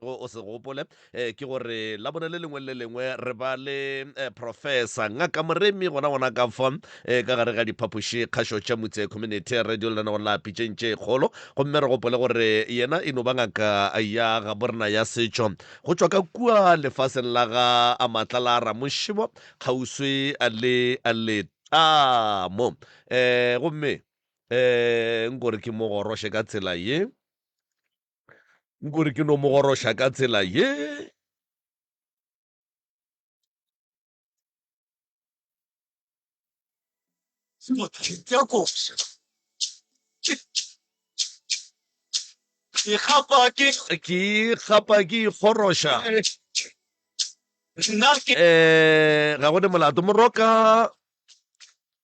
go o se gopole um ke gore la bone le lengwe le lengwe re ba le um eh, professor ngaka moremi gona gona ka fa um eh, ka gare ga diphapoši kgašo tša motse community radio le lena go la pitšeng tše kgolo gomme re gopole gore yena e no ba ngaka ya ga borena ya setšo go tšwa ka kua lefaseng la ga a maatla la ramošibo kgauswi le letamo um gomme um nkore ke mo goroše ka tsela ye nkore ke no mo goroša ka tsela ye ke gapa ke ke gapa ke ikgoroša nna ke um ga go ne molato moroka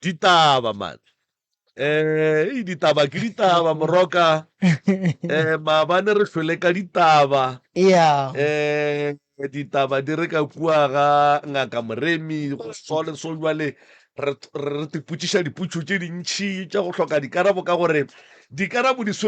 Ditaba man. Eh, ditaba ke ditaba moroka. Eh, maabane re hlwele ka ditaba. Yeah. Eh, ditaba di re ka kua ga ngaka Moremi go so le so jwale re re re tipotšiša dipotšo tše dintšhi tša go hloka dikarabo ka gore dikarabo di swe-